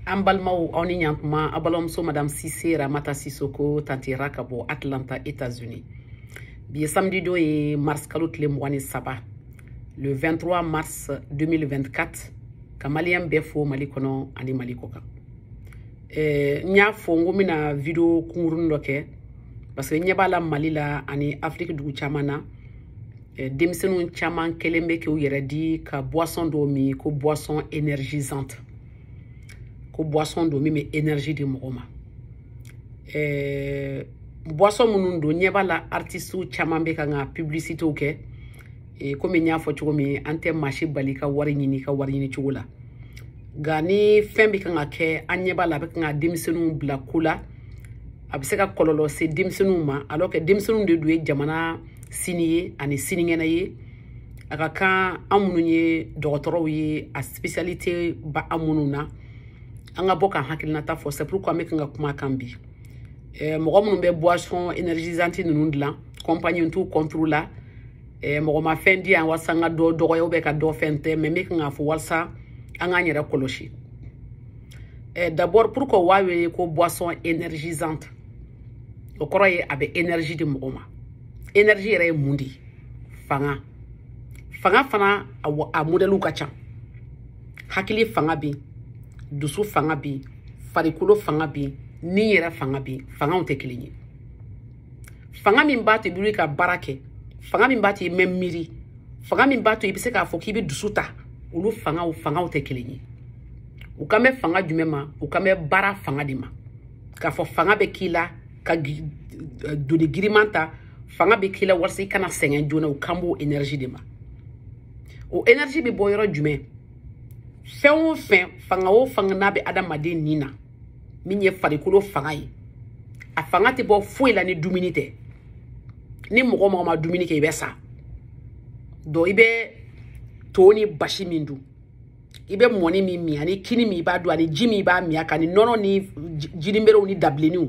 an balimaw aw ni ɲantuma aw balimamuso madame sise ramata sisoko tanti ra ka bɔ atlanta états unis bi ye samedi don ye mars kalo tile mugan ni saba le 23 mars 2024 ka maliyɛn bɛɛ fo mali kɔnɔ ani mali kɔ kan eh, n y'a fɔ n ko n bɛna video kunkurunin dɔ kɛ parce que n ɲɛ b'a la mali la ani afiriki dugu caman na eh, denmisɛnninw caman kɛlen bɛ k'u yɛrɛ di ka boisson dɔ min ko boisson énergisante ko boisson don min bɛ énergie di mɔgɔ ma eh, boisson minnu don n ɲɛ b'a la artistew caman bɛ kan k'a publicitew kɛ eh, komi n y'a fɔ cogo min an tɛ maa si bali ka wari ɲini ka wari ɲini cogo la nka ni fɛn bɛ kan ka kɛ an ɲɛ b'a la a bɛ kan ka denmisɛnninw bila ko la a bɛ se ka kɔlɔlɔ se denmisɛnninw ma alors que denmisɛnninw de dun ye jamana sini ye ani sinikɛnɛ ye a ka kan an minnu ye dɔgɔtɔrɔw ye a spécialité b'an minnu na an ka bɔ k'an hakilinata fɔ c'est pourquoi n bɛ kan ka kuma a kan bi eh, mɔgɔ minnu bɛ boisson énergisante ninnu dilan compagnie n t'u contre la eh, mɔgɔ ma fɛn di yan walasa n ka dɔ dɔgɔya ou ka dɔ fɛn tɛ mais n bɛ kan k'a fɔ walasa an k'an yɛrɛ kɔlɔsi eh, d'abord pourquoi u b'a wele ko boisson énergisante o kɔrɔ ye a bɛ énergie di mɔgɔ ma énergie yɛrɛ ye mun de ye fanga fanga fana a modɛliw ka ca hakili fanga bɛ yen dusu fanga bɛ yen farikolo fanga bɛ yen ni yɛrɛ fanga bɛ yen fangaw tɛ kelen ye fanga min b'a to i bɛ wuli ka baara kɛ fanga min b'a to i bɛ miiri fanga min b'a to i bɛ se k'a fɔ k'i bɛ dusu ta olu fangaw fangaw tɛ kelen ye u kan bɛ fanga jumɛn ma u kan bɛ baara fanga de ma k'a fɔ fanga bɛ k'i la ka eh, doni giriman ta fanga bɛ k'i la walasa i kana sɛgɛn joona u kan b'o enerji de ma o enerji bɛ bɔ yɔrɔ jumɛn fɛn o fɛn fanga o fanga n'a bɛ adamaden ni na min ye farikolo fanga ye a fanga tɛ bɔ foyi la ni dumuni tɛ ni mɔgɔ o mɔgɔ ma dumuni kɛ i bɛ sa donc i bɛ to ni basi min dun i bɛ mɔni min min ani kini min i b'a dun ani ji min i b'a min a kan ni nɔnɔ ni jiniberew ni dabilenniw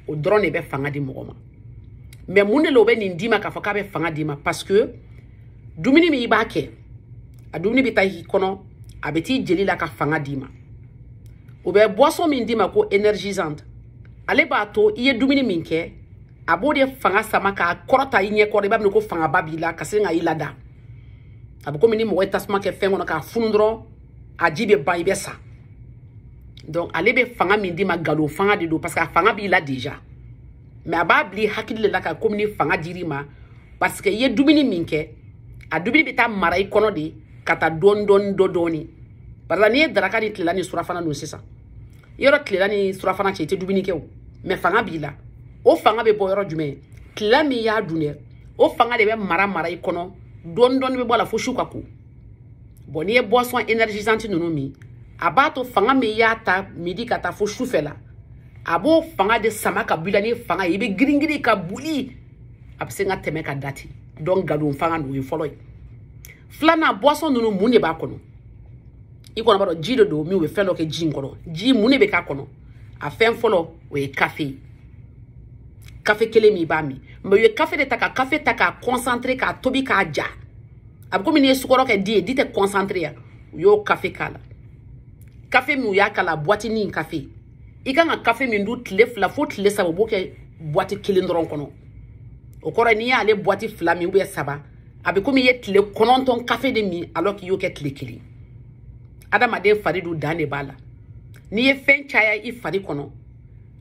o dɔrɔn de bɛ fanga di mɔgɔ ma mais mun de la u bɛ nin d'i ma k'a fɔ k'a bɛ fanga d'i ma parce que dumuni min i b'a kɛ a dumuni bɛ taa i kɔnɔ a bɛ t'i jeli la ka fanga d'i ma u bɛ boisson min d'i ma ko énergisante ale b'a to i ye dumuni min kɛ a b'o de fanga sama k'a kɔrɔta i ɲɛkɔrɔ i b'a minɛ ko fangaba b'i la ka se ka i lada a bɛ komi ni mɔgɔ ye tasuma kɛ fɛn kɔnɔ k'a funu dɔrɔn a ji bɛ ban i bɛ sa donc ale bɛ fanga min d'i ma nkalon fanga de don parce que a fanga b'i la déjà mais a b'a bila i hakili de la ka komi ni fanga dir'i ma parce que i ye dumuni min kɛ a dumuni bɛ taa mara i kɔnɔ de ka taa dɔɔni dɔɔni dɔ dɔɔni parce que n'i ye daraka ni tilela ni surafana dun sisan yɔrɔ tilela ni surafana cɛ i tɛ dumuni kɛ o mais fanga b'i la o fanga bɛ bɔ yɔrɔ jumɛn tilela min y'a dun dɛ o fanga de bɛ mara mara i kɔnɔ dɔɔni dɔɔni bɛ bɔ a la fo su ka ko bon n'i ye boisson énergisante ninnu min a b'a to fanga min y'a ta midi ka taa fo su fɛ la a b'o fanga de sama ka bɔ i la ni fanga ye i bɛ giringirin ka boli a bɛ se ka tɛmɛ ka da ten donc nkalon fanga don o ye fɔlɔ ye filanan boisson ninnu mun de b'a kɔnɔ i kɔni b'a dɔn ji de don min u bɛ fɛn dɔ kɛ ji in kɔnɔ ji mun de bɛ k'a kɔnɔ a fɛn fɔlɔ o ye kafe ye kafe kelen min i b'a min mais u ye kafe de ta ka kafe ta k'a concentré k'a tobi k'a ja a bɛ komi n'i ye sukɔrɔ kɛ di ye di tɛ concentré ya u y'o kafe k'a la kafe min u y'a k'a la buwatini in kafe i kan ka kafe min dun tile fila fo tile saba u b'o kɛ buwati kelen dɔrɔn kɔnɔ o kɔrɔ n'i y'ale buwati fila min ou bien saba a bɛ komi i ye tile kɔnɔntɔn kafe de min alors k'i y'o kɛ tile kelen adamaden fari dun dan de b'a la n'i ye fɛn caya i fari kɔnɔ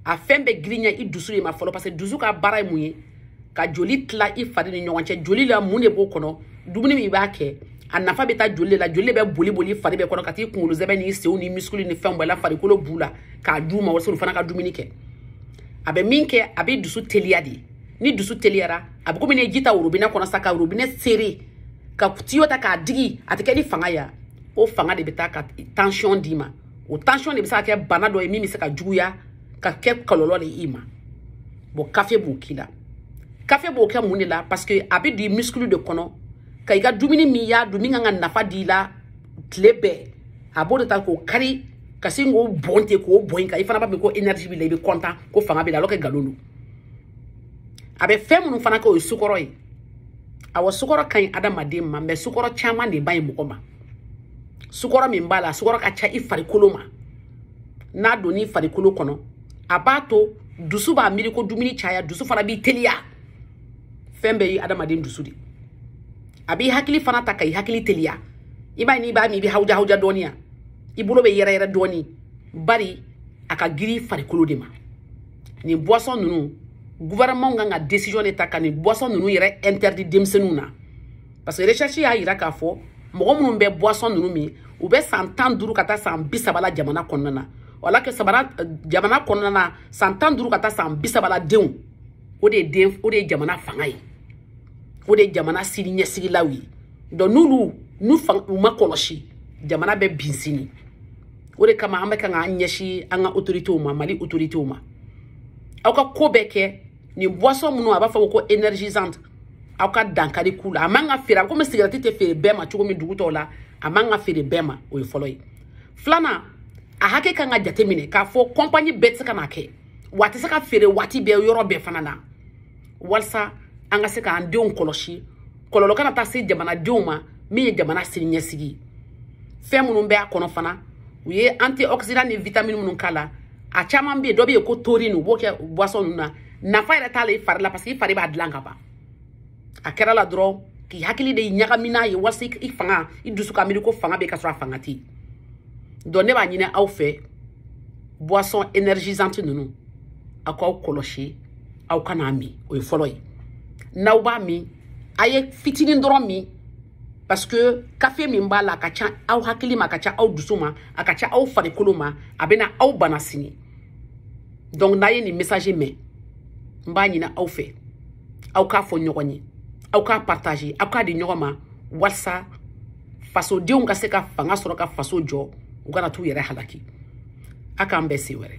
a fɛn bɛ girinya i dusu de ma fɔlɔ parce que dusu ka baara ye mun ye ka joli tila i fari ni ɲɔgɔn cɛ joli la mun de b'o kɔnɔ dumuni min i b'a kɛ a nafa bɛ taa joli de la joli de bɛ boli boli fari bɛɛ kɔnɔ ka t'i kunkolo sɛmɛ ni senw ni misikulu ni fɛnw bɛɛ la farikolo b'u la k'a d'u ma walasa olu fana ka dumuni kɛ a bɛ min kɛ a bɛ dusu teliya de ni dusu teliyara a bɛ komi n'i ye ji ta worobinɛ kɔnɔ sa ka worobinɛ sere ka tiyo ta k'a digi a tɛ kɛ ni fanga ye o fanga de bɛ taa ka tansiyɔn d'i ma o tansiyɔn de bɛ se ka kɛ bana dɔ ye min bɛ se ka juguya ka kɛ kɔlɔlɔ de i ma bon kafe b'o k'i la kafe b'o kɛ mun de la parce que a bɛ don i misikulu de kɔnɔ ka i ka dumuni min y'a dun min kan ka nafa d'i la tile bɛɛ a b'o de ta k'o kari ka sin k'o bɔn ten k'o bɔn i kan i fana b'a miiri ko énergie b'i la i bɛ content ko fanga b'i la alors que nkalon don a bɛ fɛn minnu fana kɛ o ye sukɔrɔ ye awɔ sukɔrɔ ka ɲi adamaden ma mais sukɔrɔ caman de man ɲi mɔgɔ ma sukɔrɔ min b'a la sukɔrɔ ka ca i farikolo ma n'a donn'i farikolo kɔnɔ a b'a to dusu b'a miiri ko dumuni caya dusu fana b'i teliya fɛn bɛɛ ye adamaden dusu de a b'i hakili fana ta ka i hakili teliya i b'a ye n'i b'a min i bɛ hawuja hawuja dɔɔni yan i bolo bɛ yɛrɛyɛrɛ dɔɔni bari a ka giri farikolo de ma nin boisson ninnu gouvernement kan ka décision de ta ka nin boisson ninnu yɛrɛ interdit denmisɛnninw na parce que recherche y'a yira k'a fɔ mɔgɔ minnu bɛ boisson ninnu min u bɛ san tan duuru ka taa san bi saba la jamana kɔnɔna na alors que sabula eh, jamana kɔnɔna na san tan duuru ka taa san bi saba la denw o de ye den o de ye jamana fanga ye o de ye jamana sini ɲɛsigilaw ye donc n'olu n'u fanga u ma kɔlɔsi jamana bɛ bin sini o de kama an bɛ kan k'an ɲɛsin an ka autoritéw ma mali autoritéw ma aw ka ko bɛɛ kɛ nin boisson minnu a b'a fɔ ko énergisante aw ka dankari k'u la a man ka feere a bɛ komi sigarɛti tɛ feere bɛɛ ma cogo min dugu tɔw la a man ka feere bɛɛ ma o ye fɔlɔ ye filanan a hakɛ kan ka jateminɛ k'a fɔ kɔnpanyi bɛɛ tɛ se ka n'a kɛ wa a tɛ se ka feere waati bɛɛ yɔrɔ bɛɛ fana na walisa an ka se k'an denw kɔlɔsi kɔlɔlɔ kana taa se jamanadenw ma min ye jamana sini ɲɛsigi fɛn minnu bɛ a kɔnɔ fana u ye antioxydant ni vitamine minnu k'a la a caman bɛ yen dɔ bɛ yen ko taurine u b'o kɛ boisson ninnu na nafa yɛrɛ t'a la i fari la parce que i fari b'a dilan ka ban a kɛr'a la dɔrɔn k'i hakili de ɲagami n'a ye walasa i fanga i dusu ka miiri ko fanga bɛ ka sɔrɔ a fanga tɛ yen donc ne b'a ɲini aw fɛ boisson énergisante ninnu aw k'aw kɔlɔsi aw kan'a min o ye fɔlɔ ye n'aw b'a min a ye fitinin dɔrɔn min parce que kafe min b'a la a ka ca aw hakili ma a ka ca aw dusu ma a ka ca aw farikolo ma a bɛna aw bana sini donc n'a ye nin message mɛn n b'a ɲini aw fɛ aw k'a fɔ ɲɔgɔn ye aw k'a partager aw k'a di ɲɔgɔn ma walisa fasodenw ka se ka fanga sɔrɔ ka faso jɔ u kana t'u yɛrɛ halaki a k'an bɛn siɲɛ wɛrɛ